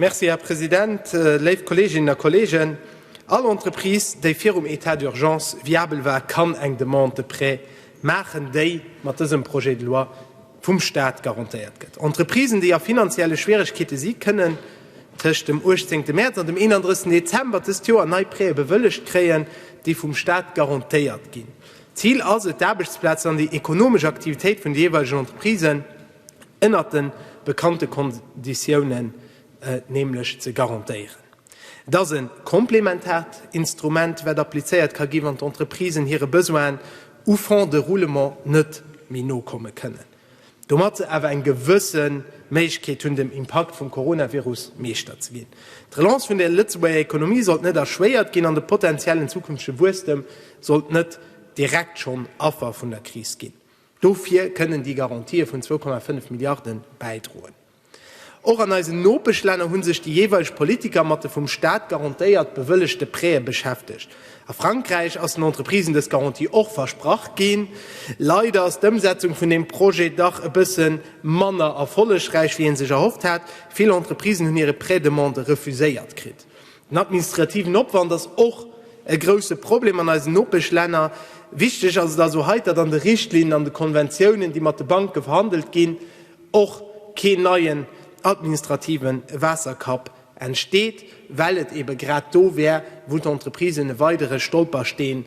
Merci, Här President. Léif Kolleeginnen a Kolleegen, all Entreprise, déi virum État d'urgence viabel war, kann eng Demande de prêt maachen, déi mat dësem Projet de loi vum Stat garantéiert gëtt. Entreprisen, déi a finanzielle Schwieregkeete si, kënnen tëscht dem 18 Mäerz an dem 31 Dezember dëst Joer nei Prêtë bewëllegt kréien, déi vum Stat garantéiert ginn. D'Zil ass et, d'Aarbechtsplazen an déi ekonomesch Aktivitéit vun de jeeweilegen Entreprisen, ënnert de bekannte Konditiounen nämlech ze garantéieren. Et ass e komplementaart Instrument, wat applizéiert ka gi wann d'Entreprisen hire Besoinen u Fonds de roulement net méi nokomme kënnen, domat se awer eng gewësse Méiglechkeet hunn, dem Impakt vum Coronavirus Meeschter ze ginn. D'Relance vun der Lëtzebuerger Ekonomie sollt net erschwéiert ginn an de potentiellen zukünftege Wuesstem sollt net direkt schonn Affer vun der Kris ginn. Dofir kënnen déi Garantië vun 2,5 Milliarde bäidroen. Och an eisen Nopeschlänner hu sech déi jeeweileg Politiker mat de vum Staat garantéiert bewëllegte Prêtë beschäftegt. A Frankräich ass den Entreprisen dës Garantie och versprach ginn. Leider ass d'Ëmsetzung vun deem Projet dach e bësse manner erfollegräich, wéi ee sech erhofft hat. Vill Entreprisen hunn hire Prêt-demande refuséiert kritt. Den administrativen Opwand ass och e grousse Problem an eisen Nopeschlänner. Wichteg ass et also hei, datt an de Richtlinnen an de Konventiounen, déi mat de Banke verhandelt ginn, och keen neien administrative Waasserkapp entsteet, well et eebe grad do wär, wou d'Entreprisen e weidere Stolpersteen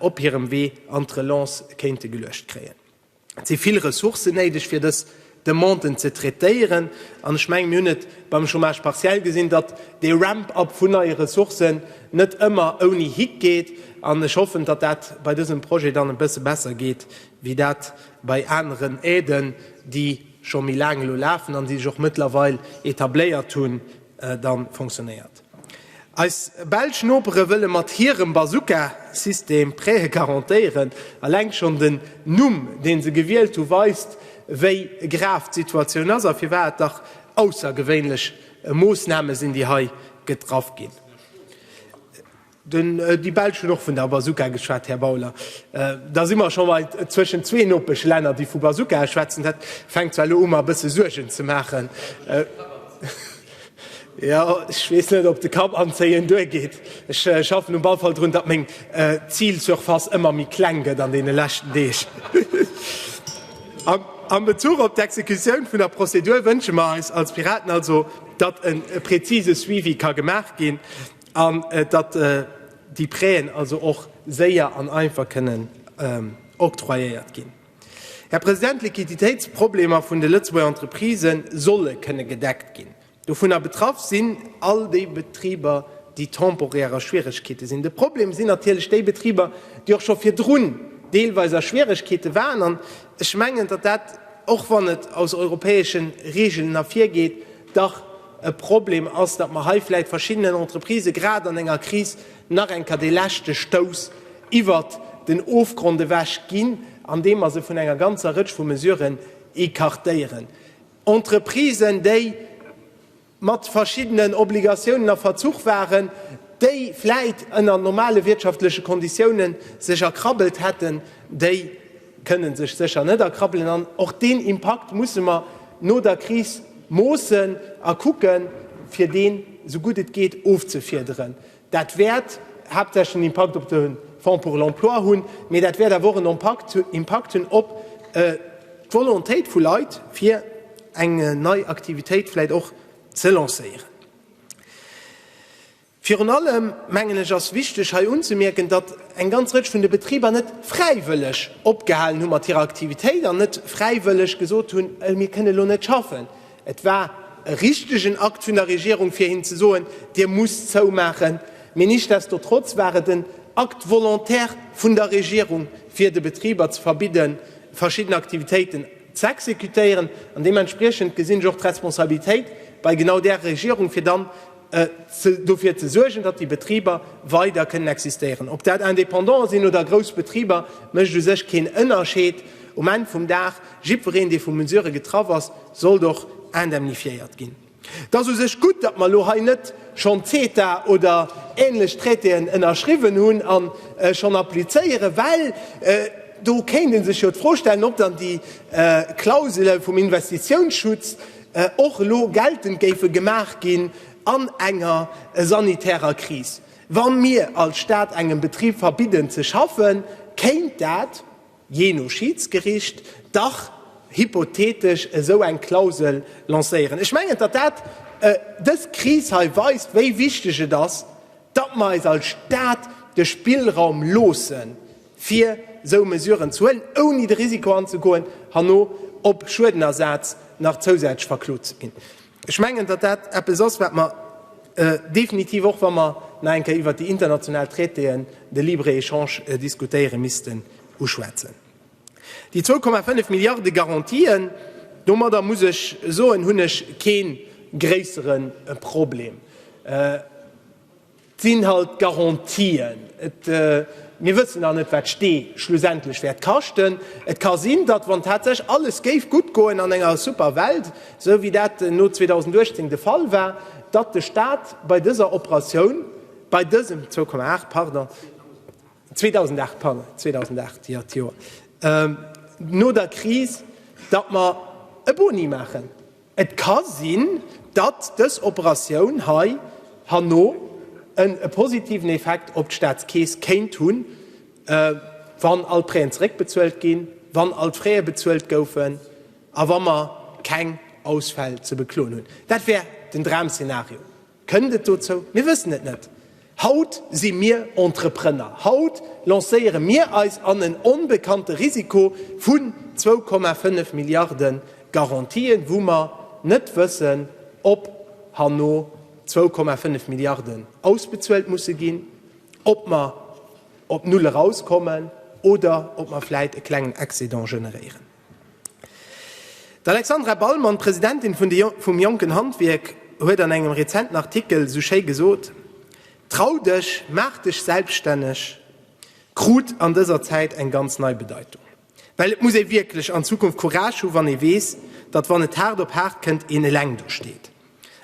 op hirem Wee an d'Relance kéinte geluecht kréien. Et si vill Ressourcen néideg, fir dës Demanden ze traitéieren. An ech mengen, mir hunn et beim Chômage partiel gesinn, datt dee Ramp-up vun neie Ressourcen net ëmmer ouni Hick geet. An ech hoffen, datt dat bei dësem Projet dann e bësse besser geet wéi dat bei aneren Aiden, déi scho méi laang elo lafen an déi sech och mëttlerweil etabléiert hunn, da fonctionnéiert. Eis belsch Nopere wëlle mat hirem Bazooka-System Prêtë garantéieren. Eleng schonn den Numm, dee se gewielt hu weist, wéi grav d'Situatioun ass a firwat et dach aussergewéinlech Moossname sinn, déi hei getraff ginn. Den Di Belsch huet och vun der Bazooka geschwat, Här Bauler. Da si mer scho mei zwëschen zwee Nopeschlänner, déi vu Bazookae schwätzen. Dat fänkt zwar elo u mer e bësse Suergen ze maachen. Jo, ech weess net, ob de Kapp anzéien duergeet. Ech schaffen um ball Fall drun, datt meng Zilsurface ëmmer méi kleng gëtt an deene leschten Deeg. Am Bezuch op d'Exekutioun vun der Prozedur wënsche mer eis als Piraten also, datt e prezise Suivi ka gemaach ginn. An datt déi Prêten also och séier an einfach kënnen octroyéiert ginn. Här President, d'Liquiditéitsproblemer vun de Lëtzebuerger Entreprisë solle kënne gedeckt ginn. Dovunner betraff sinn all déi Betriber, déi temporär a Schwieregkeete sinn. De Problem sinn natierlech déi Betriber, déi och scho virdrun deelweis a Schwieregkeete waren. An ech mengen, datt dat, och wann et aus europäesche Regeln ervirgeet, dach, E Problem ass, datt mer hei vläicht verschiddenen Entreprisë grad an enger Kris nach eng Kéier dee leschte Stouss iwwert den Ofgrond ewech ginn, andeem mer se vun enger ganzer Rëtsch vu Mesuren écartéieren. Entreprisen, déi mat verschiddenen Obligatiounen a Verzuch waren, déi vläicht ënner normale wirtschaftleche Konditiounen sech erkrabbelt hätten, déi kënnen sech sécher net erkrabbelen an och deen Impakt musse mer no der Kris moossen a kucken, fir deen esou gutt et geet ofzefiederen. Dat wäert haaptsächlech en Impakt op de Fonds pour l'emploi hunn, mee dat wäert awer och en Impakt hunn op d'Volontéit vu Leit, fir eng nei Aktivitéit vläicht och ze lancéieren. Virun allem, mengen ech, ass wichteg hei unzemierken, datt eng ganz Rëtsch vun de Betriber net fräiwëlleg opgehalen hu mat hirer Aktivitéit an net fräiwëlleg gesot hunn, mir kënnen elo net schaffen. Et war e richtegen Akt vun der Regierung fir hinnen ze soen, Dir musst zoumaachen. Mee nichtsdestotrotz war et en Akt volontaire vun der Regierung, fir de Betriber ze verbidden, verschidden Aktivitéiten z'exekutéieren. An deementspriechend gesinn ech och d'Responsabilitéit bei genau där Regierung, fir dann dofir ze suergen, datt déi Betriber weider kënnen existéieren. Ob dat Indépendanten sinn oder grouss Betriber, mécht u sech keen Ënnerscheed. Um Enn vum Dag, jiddwereen, dee vu Mesurë getraff ass, sollt och indemnifiéiert ginn. Et ass u sech gutt, datt mer elo hei net schonn CETA oder änlech Traitéen ënnerschriwwen hunn a schonn applizéieren, well do kéint ee sech jo d'Fro stellen, ob dann déi Klausele vum Investitiounsschutz, och elo geltend géife gemaach ginn an enger sanitärer Kris. Wa mir als Staat engem Betrib verbidden ze schaffen, kéint dat, jee no Schiedsgericht, dach hypothetesch esou eng Klausel lancéieren. Ech mengen, datt dat dës Kris hei weist, wéi wichteg et ass, datt mer eis als Staat de Spillraum loossen, fir esou Mesuren ze huelen, ouni de Risiko anzegoen, herno op Schuedenersaz nach zousätzlech verklot ze ginn. Ech mengen, datt dat eppes ass, wat mer definitiv, och wa mer nach eng Kéier iwwert déi international Traitéen, de Libre-Échange diskutéieren, missten uschwätzen. Déi 2,5 Milliarde Garantien, domadder muss ech soen, hunn ech kee gréissere Problem. Sinn halt Garantien. Et, mir wëssen nach net, wat d'Stee schlussendlech wäert kaschten. Et ka sinn, datt, wann tatsächlech alles géif gutt goen an enger super Welt, esou wéi dat no 2018 de Fall war, datt de Stat bei dëser Operatioun, bei dësem 2,8, pardon, 2008, pardon, 2008, jo, d'Joer no der Kris, datt mer e Boni maachen. Et ka sinn, datt dës Operatioun hei herno en e positiven Effekt op d'Staatskeess kéint hunn, wann all d'Präen zeréckbezuelt ginn, wann all d'Fraie bezuelt goufen a wa mer keng Ausfäll ze bekloen hunn. Dat wär den Dramszenario. Kënnt et dozou? Mir wëssen et net. Haut si mir Entreprenner. Haut lancéiere mir eis an en onbekannte Risiko vun zwou Komma fënnef Milliarde Garantien, wou mer net wëssen, ob herno zwou Komma fënnef Milliarden ausbezuelt musse ginn, ob mer op null erauskommen oder ob mer vläit e klengen Excédent generéieren. D'Alexandra Ballmann, Presidentin vum Jonken Handwierk, huet an engem rezenten Artikel esou schéi gesot, Trau dech, maach dech selbststänneg krut an dëser Zäit eng ganz nei Bedeitung. Well et muss ee wierklech an Zukunft Courage hu wann ee weess, datt wann et haart op haart kënnt, een eleng do steet.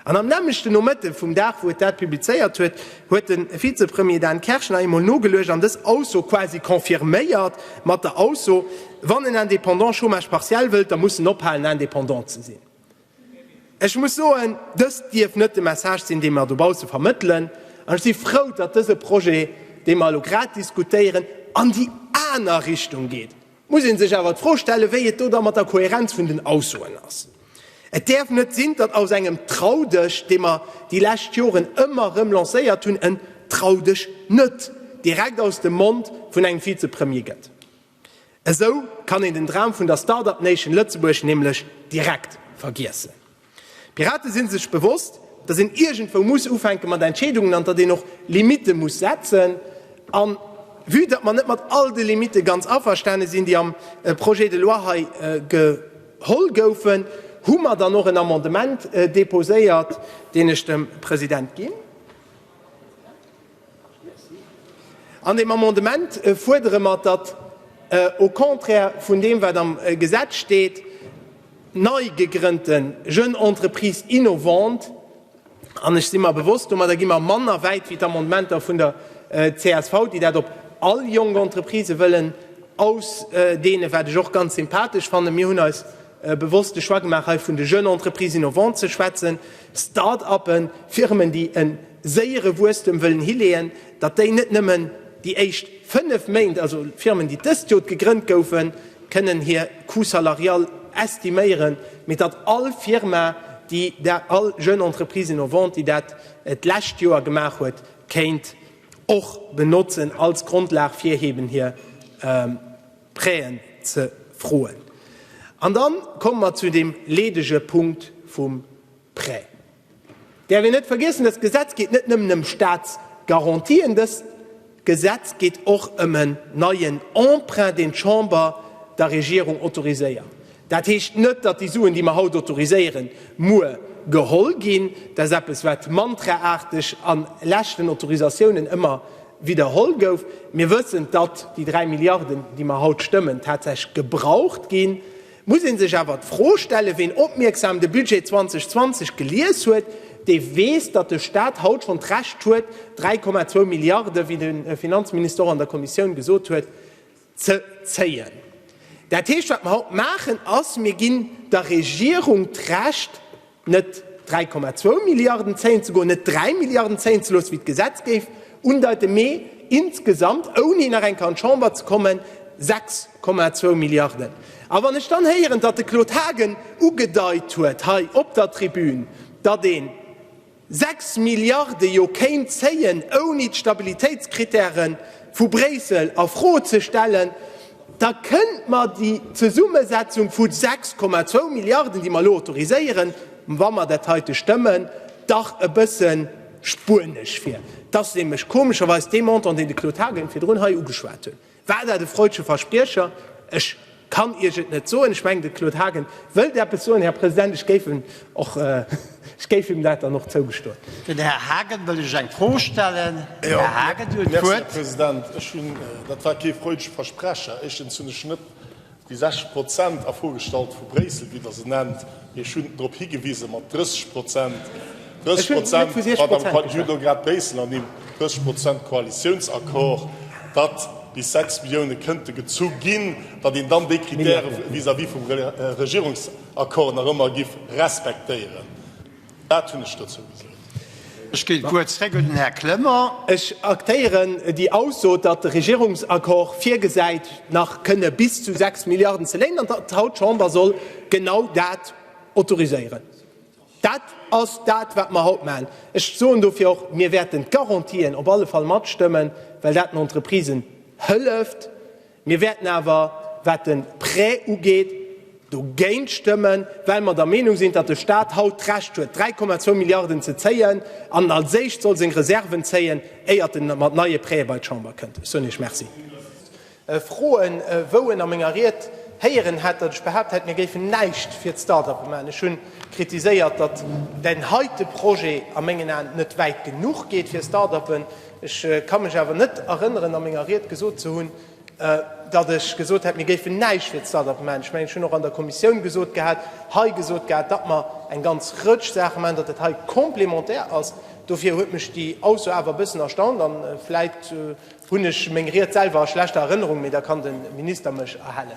An am nämmlechte Nomëtte vum Dag, wou et dat publizéiert huet, huet de Vizepremier Dan Kersch nach eemol nogeluecht an dës Ausso quasi confirméiert mat der Ausso, Wann en Indépendant Chômage partiel wëllt, da muss en ophalen, Indépendant ze sinn. Ech muss soen, dëst dierf net de Message sinn, dee mer dobausse vermëttelen. An ech si frou, datt dëse Projet, dee mer elo grad diskutéieren, an déi aner Richtung geet. muss ee sech awer d'Fro stellen, wéi et do da mat der Kohärenz vun den Aussoen ass. Et däerf net sinn, datt aus engem Trau dech, dee mer déi lescht Joren ëmmer erëm lancéiert hunn, en Trau dech net direkt aus dem Mond vun engem Vizepremier gëtt. Esou kann een den Dram vun der Start-up Nation Lëtzebuerg nämlech direkt vergiessen. D'Piraten sinn sech bewosst, datt een iergendwou muss ufänken mat Entscheedungen an datt een och Limitte muss setzen. An vue datt mer net mat all de Limitte ganz averstane sinn, déi am Projet de loi hei geholl goufen, hu mer dann och en Amendement deposéiert, deen ech dem President ginn. An deem Amendement fuerdere mer, datt au contraire vun deem, wat am Gesetz steet, nei gegrënnte Jeunes entreprises innovantes, an ech si mer bewosst, domadder gi mer manner wäit wéi d'Amendementer vun der csv, déi dat op all jonk Entreprisë wëllen ausdeenen, wat ech och ganz sympathesch fannen. Mir hunn eis e bewosste Choix gemaach hei vun de Jeunes Entreprises innovantes ze schwätzen, Start-uppen, Firmen déi e séiere Wuesstem wëllen hileeën, datt déi net nëmmen déi éischt 5 Méint, also Firmen déi dëst Jot gegrënnt goufen, kënnen hir Coût salarial estiméieren, mee datt all Firma, déi dat, all Jeune Entreprise innovante, déi dat d'lescht Joer gemaach huet, kéint och benotzen als Grondlag fir eben hir Prêten ze froen. An da komme mer zu deem leedege Punkt vum Prêt. Däerf een net vergiessen, dëst Gesetz geet net nëmmen ëm Staatsgarantien, dëst Gesetz geet och ëm en neien Emprunt, deen d'Chamber der Regierung autoriséiert. Dat heescht net, datt déi Suen, déi mer haut autoriséieren, muer geholl ginn. Dat ass eppes, wat mantraaarteg a leschten Autorisatiounen ëmmer widderholl gouf. Mir wëssen, datt déi dräi Milliarden, déi mer haut stëmmen, tatsächlech gebraucht ginn. Et muss ee sech awer d'Fro stellen, ween opmierksam de Budget 2020 gelies huet, dee weess, datt de Stat haut schonn d'Recht huet, 3,2 Milliarden, wéi de Finanzminister och an der Kommissioun gesot huet, ze zéien. Dat heescht, wat mer haut maachen, ass, Mir ginn der Regierung d'Recht, net 3,2 Milliarden zéien ze goen, net 3 Milliarden zéien ze loossen, wéi d'Gesetz géif undeiten, mee insgesamt, ouni nach eng Kéier an d'Chamber ze kommen, 6,2 Milliarden. A wann ech dann héieren, datt de Claude Haagen ugedeit huet hei op der Tribün, datt een, 6 Milliarde jo kéint zéien, ouni d'Stabilitéitskritäre vu Bréissel a Fro ze stellen, da kënnt mer déi Zesummesetzung vu 6,2 Milliarden, déi mer elo autoriséieren, wa mer dat heite stëmmen, dach e bësse spuenesch vir. Dat ass nämlech komescherweis dee Montant, deen de Claude Haagen virdrun hei ugeschwat huet. War dat e freudsche Verspriecher? Ech kann Iech et net soen. Ech mengen, de Claude Haagen wëllt eppes soen, Här President. Ech géif en och, ech géif him dat dann och zougestoen. Den Här Haagen wëll lech eng Fro stellen. Den Här Haagen huet d'Wuert. Merci, Här President. Ech hunn, dat war kee freudsche Versprecher. Éischtens hunn ech net Déi 60 Prozent a Fro gestallt vu Bréissel, wéi Der se nennt. Ech hunn drop higewise mat 30 Prozent. 30 Prozent, Madame Kreutz, ech hunn do grad Bréissel ernimmt, 30 Prozent Koalitiounsaccord, datt bis 6 Millioune kënnte gezu ginn, datt een dann déi Krittäre vis-à-vis vum Regierungsaccord nach ëmmer giff respektéieren. Dat hunn ech dozou gesot. Ech géi kuerz zréck un den Här Clement. Ech aktéieren déi Ausso, datt de Regierungsaccord virgesäit, nach kënne bis zu 6 Milliarden ze léinen an datt d'Haut-Chamber soll genau dat autoriséieren. Dat ass dat, wat mer haut maachen. Ech soen dofir och, mir wäerten d'Garantien op alle Fall matstëmmen, well dat den Entreprisen hëlleft, Mir wäerten awer, wat de Prêt ugeet, dogéint stëmmen, well mer der Meenung sinn, datt de Stat haut d'Recht huet, 3,2 Milliarden ze zéien an als éischt soll seng Reserven zéien, éiert en mat neie Prêtë bei d'Chamber kënnt. Ech soen Iech Merci. Froen, wou en a menger Ried héieren hätt, datt ech behaapt hätt, mir géifen näischt fir d'Start-uppe maachen. Ech hu kritiséiert, datt deen heite Projet a mengen Aen net wäit genuch geet fir Start-uppen. Ech ka mech awer net erënneren a menger Ried gesot ze hunn, datt ech gesot hätt, mir géifen näischt fir d'Start-up man. Ech mengen, ech hunn och an der Kommissioun gesot gehat, hei gesot gehat, datt mer eng ganz Rëtsch Saache man, datt dat hei complémentaire ass. Dofir huet mech déi Ausso awer e bëssen erstaunt an vläicht hunn ech meng Ried selwer a schlechter Erënnerung, mee da kann de Minister mech erhellen.